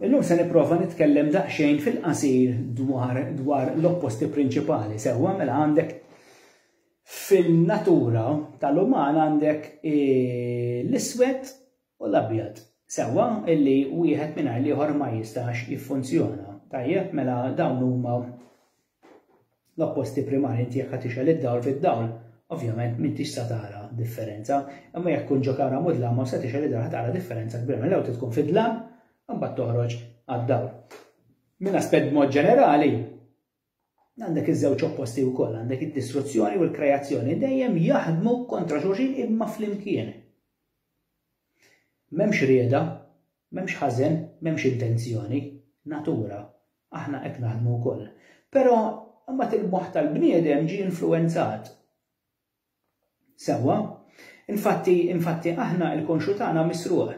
Illum se nipprova nitkellem daqsxejn fil-qasir dwar dwar l-opposti prinċipali. Sewwa mela għandek fin-natura tal-uman għandek e, l-iswed u l-abjad. Sewwa illi wieħed mingħajr l-ieħor ma jistax jiffunzjona. Tajjeb mela dawn huma l-opposti primari inti jekk ħa tixgħel id-dawl bid-dawl ovvjament m'intix sa tara differenza, imma jekk tkun ġo kamra mudlama u se tixgħel id-dawl ħa tara differenza kbira mela l-ewwel trid tkun fid-dlam imbagħad toħroġ għad-dawl. Minn aspett b'mod ġenerali, għandek iż-żewġ opposti wkoll, għandek id-distruzzjoni u l-kreazzjoni dejjem jaħdmu kontra xulxin imma flimkien. M'hemmx rieda M'hemmx ħażen, m'hemmx intenzjoni, natura, aħna hekk naħdmu wkoll. Però imbagħad il-moħħ tal-bniedem ġie influwenzat. Sewwa? Infatti, infatti aħna l-konxju tagħna misruq.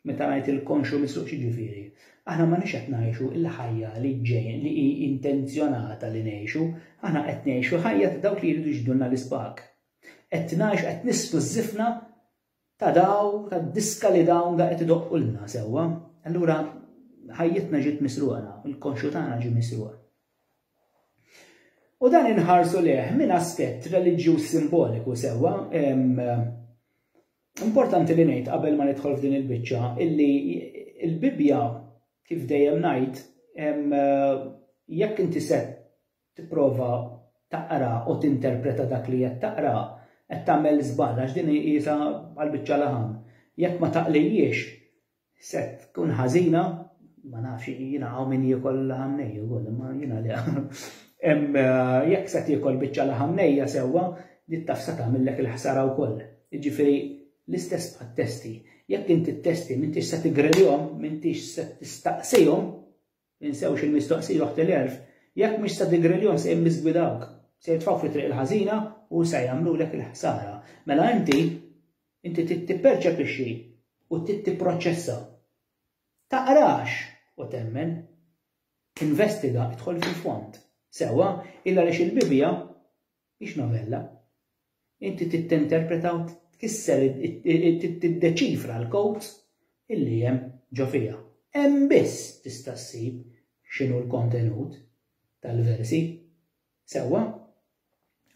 Meta ngħid il-konxju misruq x'jiġifieri? Aħna ma nix qed ngħixu l-ħajja li ġejn li hi intenzjonata li ngħixu, aħna qed ngħixu ħajja ta' dawk li jridu jġdulna l-ispak. Qed ngħix qed nisfu żifna ta' daw, tad-diska li dawn da qed idoqqulna, sewwa? Allura ħajjitna ġiet misruqa nafu, il-konxju tagħna ġie misruq. U dan inħarsu lejh minn aspett reliġjuż simboliku sewwa, Importanti li ngħid qabel ma nidħol f'din il-biċċa illi l-Bibbja kif dejjem ngħid jekk inti se tipprova taqra u tinterpreta dak li qed taqra, qed tagħmel żball għax din iqisha bħal biċċa laħam. Jekk ma taqlihiex se tkun ħażina, ma nafx jiena hawn min jiekol laħam nej ukoll imma jiena le. Hemm jekk se tiekol biċċa laħam nejja sewwa li taf se tagħmillek il-ħsara wkoll. Jiġifieri l-istess bħat-testi. Jekk inti t-testi m'intix se tigrelihom, m'intix se tistaqsihom, Tinsewx il-mistoqsija oħt il-għerf, jekk mhux sa Digrellion se jimmiżgwidawk, se jitfgħu fit-triq il-ħażina u sa jagħmlulek il-ħsara. Mela inti, inti trid tipperċepixxi u trid tipproċċessa. Taqrax u temmen. Investiga, idħol fil-fond. Sewwa, illa għaliex il-Bibbja Mhix novella. Inti tittenterpreta u tkisser tiddeċifra l-codes illi hemm ġo fiha. Hemm biss tista' ssib x'inhu l-kontenut tal-versi. Sewwa?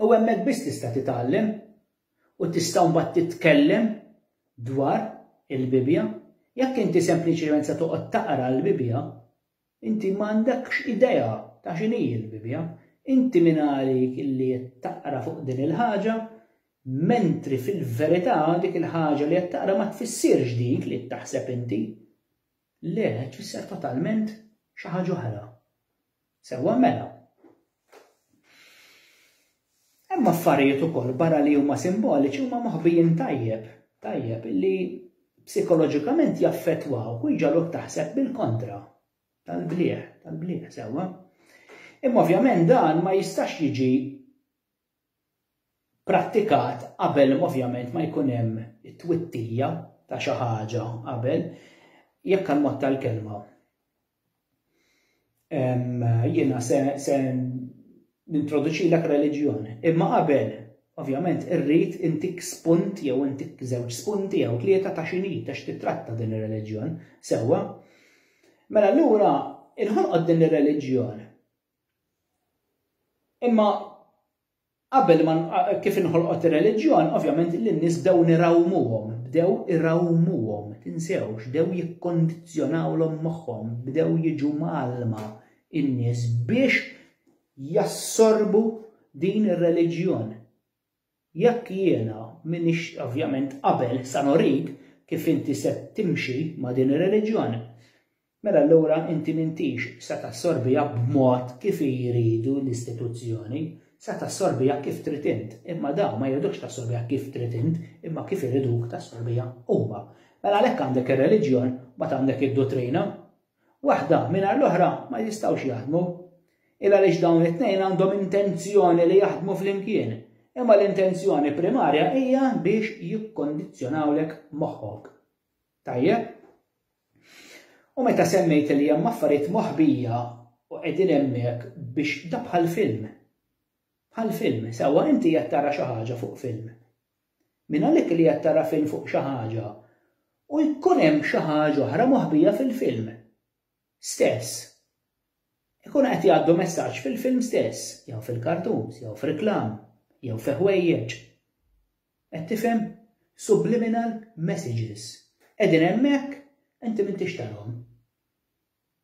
U hemmhekk biss tista' titgħallem u tista' mbagħad titkellem dwar il-Bibbja. Jekk inti sempliċement se toqgħod taqra l-Bibbja, Inti m'għandekx idea ta' x'inhi l-Bibbja. Inti min għalik illi qed taqra fuq din il-ħaġa, mentri fil-verità dik il-ħaġa li qed taqra ma tfissirx dik li qed taħseb inti. Le, tfisser totalment xi ħaġa oħra. Sewwa mela, Hemm affarijiet ukoll barra li huma simboliċi huma moħbijin tajjeb, tajjeb li psikoloġikament jaffettwaw u jġaluk taħseb bil-kontra tal-bliħ, tal-bliħ sewwa. Imma ovvjament dan ma jistax jiġi prattikat qabel ovvjament ma jkun hemm it-twittija ta' xi ħaġa qabel, jekk għal mod tal-kelma. Jiena se, se nintroduċilek reliġjon, imma qabel Ovvjament, irrid intik spunt jew intik żewġ spunti jew tlieta ta' xini ta' x'titratta din ir-reliġjon, sewwa. Mela allura inħolqod din ir-reliġjon Imma qabel ma kif inħolqot ir-reliġjon, ovvjament li n-nies bdew nirawmuhom, bdew irawmuhom, tinsewx, bdew jikkondizzjonawlhom moħħhom, bdew jiġu mgħallma in-nies biex jassorbu din ir-reliġjon. Jekk jiena m'iniex ovvjament qabel sa norik kif inti se timxi ma' din ir-reliġjon, mela allura inti m'intix se tassorbiha b'mod kif hi jridu l-istituzzjoni, se tassorbiha kif trid int, imma dawn ma jridukx tassorbiha kif trid int imma kif iriduk tassorbiha huma. Mela għalhekk għandek ir-reliġjon mbagħad għandek id-duttrina. waħda mingħajr l-oħra ma jistgħux jaħdmu, il għaliex dawn it-tnejn għandhom intenzjoni li jaħdmu flimkien, imma l-intenzjoni primarja hija biex jikkondizzjonawlek moħħok. Tajjeb? U meta semmejt li hemm affarijiet moħbija u qegħdin hemmhekk biex da bħal film. Bħal film, sewwa inti qed tara xi ħaġa fuq film. minn għalik li qed tara film fuq xi ħaġa u jkun hemm xi ħaġa oħra moħbija fil-film stess. Ikunu qed jgħaddu messaġġ fil-film stess, jew fil-kartuns, jew f'riklam, jew fi ħwejjeġ. Qed tifhem? Subliminal messages. Qegħdin hemmhekk inti m'intix tarhom.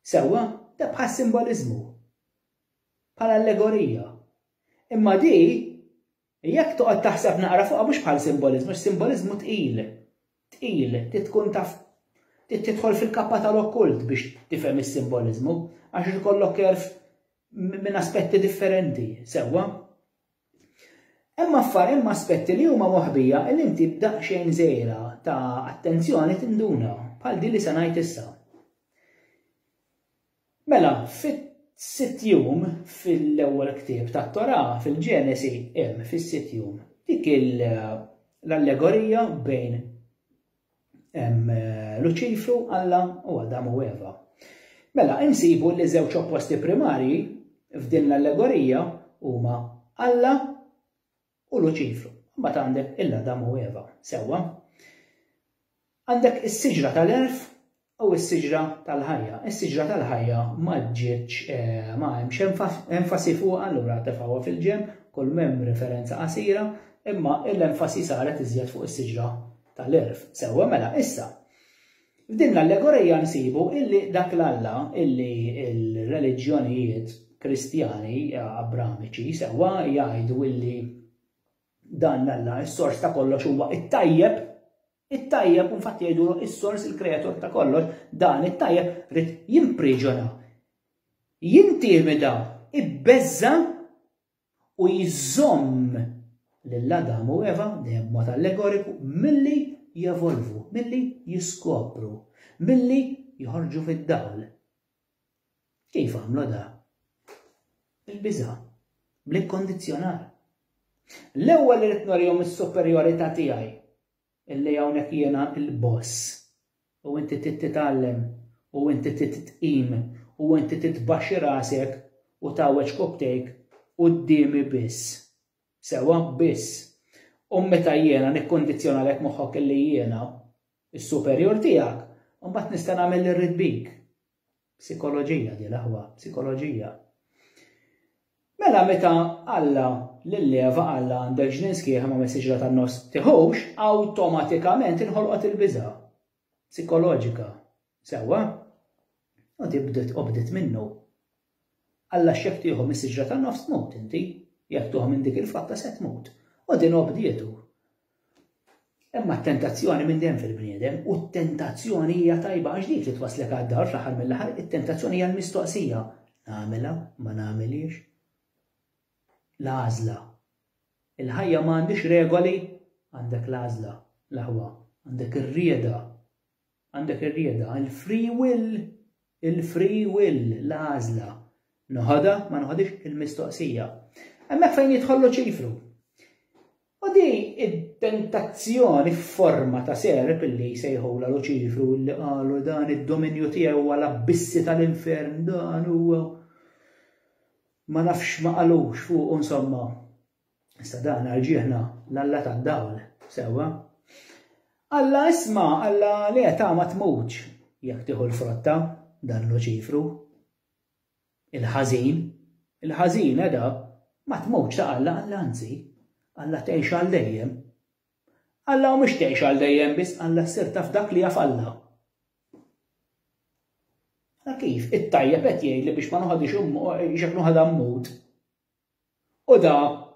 Sewwa, da bħal simboliżmu. Bħal allegorija. Imma di Jekk toqgħod taħseb naqra fuqha mhux bħal simboliżmu, x-simboliżmu tqil. Tqil, trid tkun taf trid tidħol fil-kappa tal-okkult biex tifhem is-simboliżmu, għax irid ikollok għerf minn aspetti differenti, sewwa? Hemm affar hemm aspetti li huma moħbija il inti b'daqsxejn żejra ta' attenzjoni tinduna bħal din li se ngħid issa. Mela, fis-sitt jum fil-ewwel ktieb tat-Torà, fil-Ġenesi, hemm fis-sitt jum dik l-allegorija bejn Luċifru, Alla u Adam u Eva. Mela, insibu li żewġ opposti primarji f'din l-allegorija huma Alla u Luċifru. Mbagħad għandek il-Adam u Eva, sewwa. Għandek is-siġra tal-għerf u s-siġra tal-ħajja. Is-siġra tal-ħajja ma ġietx eh, ma hemmx enfasi fuq allura tefgħuha fil-ġenb, kull mem referenza qasira, imma l-enfasi saret iżjed fuq is-siġra tal-għerf. Sewwa mela issa. F'din l-allegorija nsibu illi dak l-Alla illi l-reliġjonijiet Kristjani Abramiċi sewwa jgħidu illi dan l-Alla s-sors ta' kollox huwa it-tajjeb, it-tajjeb u fatt jgħidu is-sors il-kreatur ta' kollox, dan it-tajjeb rid jimpriġona, jintimida, ibbeżża u jżomm lil Adam u Eva, dejjem b'mod allegoriku, milli jevolvu, milli jiskopru, milli joħorġu fid-dawl. Kif għamlu da? Bil-biża', bl-ikkondizzjonar. L-ewwel irid norihom is-superjorità tiegħi. Illi hawnhekk jiena l-boss. U inti trid titgħallem, u inti trid tqim, u inti trid tbaxxi rasek u tgħawweġ kopptejk quddiemi biss. Sewwa? Biss. U meta jiena nikkundizzjonalek moħħok illi jiena, is-superjur tiegħek, imbagħad nista' nagħmel li rrid bik. Psikoloġija di l-aħwa, psikoloġija. Mela meta Alla lil Eva Alla għandek ġnien sħiħ ma messiex tan-nofs tiħux, awtomatikament inħolqot il-biża' psikoloġika. Sewwa? U tibdet obdet minnu. Alla x'jekk tieħu mis-siġra tan-nofs tmut inti, jekk tuħu minn dik il-fatta se tmut. U din obdietu. Imma t-tentazzjoni minn dejjem fil-bniedem u t-tentazzjoni hija tajba għax dik li twasslek għad-dar fl-aħħar mill-aħħar, it-tentazzjoni hija l-mistoqsija, nagħmilha, ma nagħmilhiex? L-għażla. Il-ħajja ma għandhiex regoli, għandek l-għażla, l-aħwa, għandek ir-rieda Għandek ir-rieda, il-free will, il-free will, l-għażla. Noħodha, ma noħodhiex il-mistoqsija. Hemmhekk fejn jidħol Luċifru. U di id-tentazzjoni f'forma ta' serp li jsejħula Luċifru li qalu dan id-dominju tiegħu għal abbissi tal-infern dan huwa ma nafx ma qalux fuq insomma. Issa dan għal ġieħna l-Alla tad-dawl, sewwa. Alla isma, Alla li qed ma tmutx jekk tieħu l-frotta dan Luċifru. Il-ħażin, il-ħażin edha ma tmutx ta' Alla, Alla anzi, Alla tgħix għal dejjem. Alla mhux tgħix għal dejjem biss Alla ssir taf dak li jaf Alla. Kif it-tajjeb qed jgħid li biex ma noħodix immu, xek noħodha mmut. U da,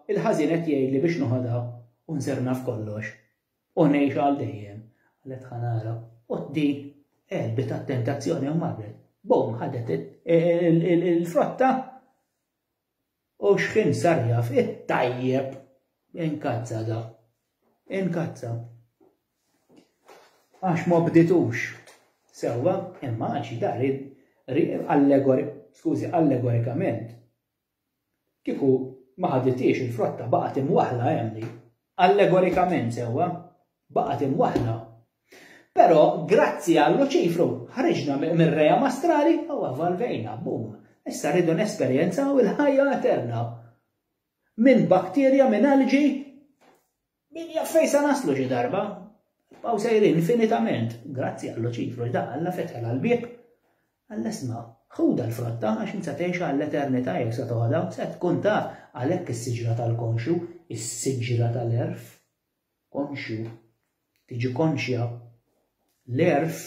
il-ħażin qed jgħidli biex noħodha u nsir naf kollox, u ngħix għal dejjem, qalet Ħanara. U din għelbet għat-tentazzjoni u marret. Bum, ħadet il-frotta u xħin sar jaf it-tajjeb inkazza da. Inkazza. Għax ma bditux. Sewa, imma għax dar allegori, skużi, allegorikament, Kieku ma ħadithiex il-frotta baqgħet imwaħħla hemm li, allegorikament sewwa, baqgħet imwaħħla. Però grazzi għal Luċifru ħriġna mir-ream astrali u evolvejna, boom! Issa rridu nesperjenzaw il-ħajja eterna. Minn bakterja, minn algae, Min jaf fejn se naslu xi darba? Nibqgħu sejrin infinitament, grazzi għall-luċifru da Alla fetħilha l-bieb. Għall-esma, ħudha l-frotta għax int se tgħixha għall-eternità jekk se toħodha, se tkun taf għalhekk is-siġra tal-konxju, is-siġra tal-għerf. Konxju, tiġi konxja, l-għerf,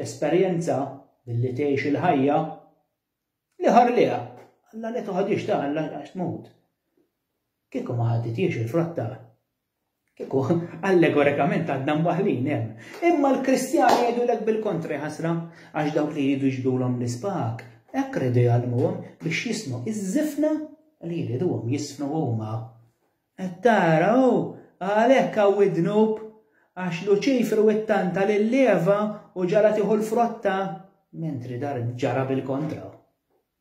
tesperjenza billi tgħix il-ħajja, Li ħar liha, Alla li toħodix ta' Alla għax tmut. Kieku ma ħaditiex il-frotta, kieku allegorikament għadna mwaħlin hemm. Imma l-Kristjani jgħidulek bil-kontri ħasra għax dawk li jridu jġbdulhom l-ispak hekk ridu jgħallmuhom biex jisnu iż-żifna li jriduhom jisnu huma. Qed tara, hu għalhekk hawn id-dnub, għax Luċifru ittanta lil Eva u ġagħlha tieħu l-frotta, mentri dan ġara bil-kontra.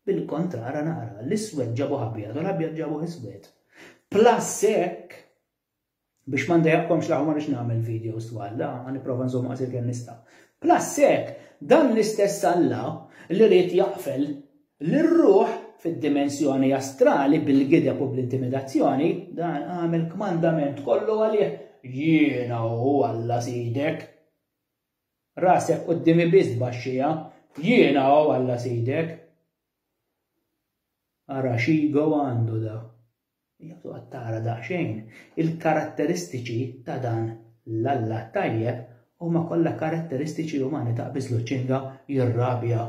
Bil-kontra, ara naqra, l-iswed ġabuh abjad u l-abjad ġabuh iswed. Plus hekk, biex ma ndejjaqkomx l-aħħar ma rridx nagħmel videos twal, la, ħa nipprova nżomm qasir kemm nista'. Plus hekk, dan l-istess Alla li ried jaqfel lir-ruħ fid-dimensjoni astrali bil-gideb u bl-intimidazzjoni, dan qam il-kmandament kollu għalih, Jiena hu Alla Sidek. Rasek quddiemi biss tbaxxiha, Jiena hu Alla Sidek. Ara xigo għandu da. Jgħatu għattara daqxejn, il-karatteristiċi ta' dan l-alla tajjeb u ma kolla karatteristiċi umani ta' bizluċinga jirrabja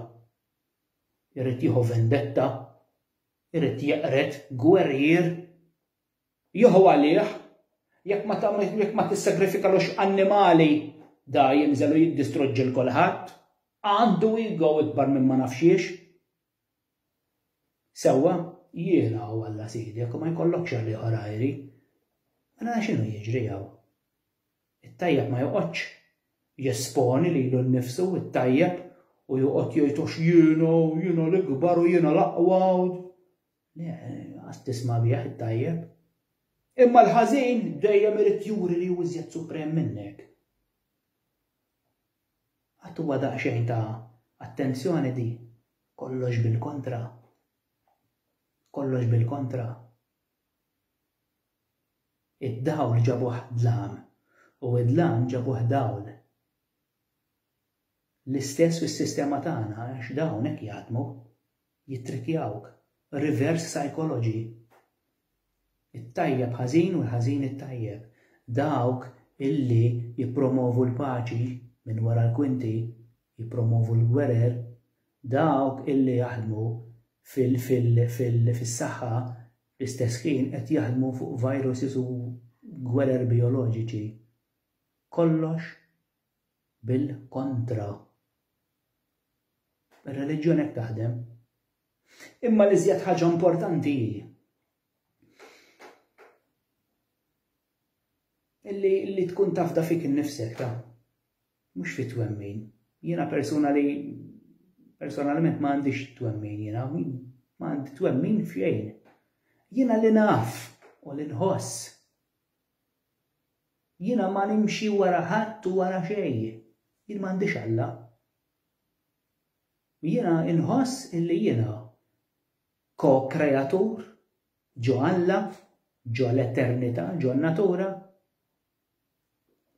irid jieħu vendetta, irid jeqred gwerrier. Jieħu għalih, jekk ma tissagrifikalux annimali, da jinżel u jiddistruġġi 'l kulħadd. Għandu ego ikbar minn ma naf xiex. Sewwa, jiena u Alla Sidek u ma jkollokx għalih għajri. Mela x'inhu jiġri hawn? It-tajjeb ma joqgħodx jesponi lilu nnifsu, it-tajjeb, u joqgħod jgħid għax jiena u jiena l-ikbar u jiena l-aqwa u Le, qas tisma' bih it-tajjeb. Imma l-ħażin dejjem irid juri li hu iżjed suprem minnek. Qatt huwa daqsxejn ta' attenzjoni di kollox bil-kontra. Kollox bil-kontra. Id-dawl ġabuh dlam, u d-dlam ġabuh dawl. L-istess fis-sistema tagħna għax dawn hekk jaħdmu, jittrikjawk, reverse psychology. It-tajjeb ħażin u l-ħażin it-tajjeb. Dawk illi jippromovu l-paċi minn wara l-kwinti, jippromovu l-gwerer, dawk illi jaħdmu fil-saħħa Fl-istess ħin qed jaħdmu fuq viruses u gwerer bijoloġiċi. Kollox bil-kontra. Ir-reliġjon hekk taħdem. Imma l-iżjed ħaġa importanti hi li tkun tafda fik innifsek ta' Mhux fi twemmin. Jiena persuna li personalment ma għandix twemmin jiena, ma għandi twemmin f'xejn. Jiena li naf u li nħoss. Jiena ma nimxi wara ħadd u wara xejn. Jien ma għandix Alla. Jiena inħoss illi jiena ko-kreatur ġo Alla, ġo l-eternità, ġo n-natura,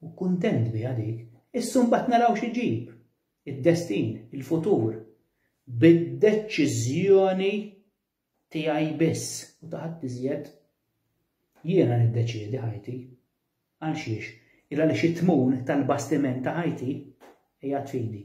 U kuntent biha dik, issa mbagħad naraw xi jġib, id-destin, il-futur, bid-deċiżjoni tiegħi biss u ta' ħadd iżjed. Jiena niddeċiedi ħajti. Għal xiex? Il għaliex it-tmun tal-bastiment ta' ħajti qiegħed f'idi.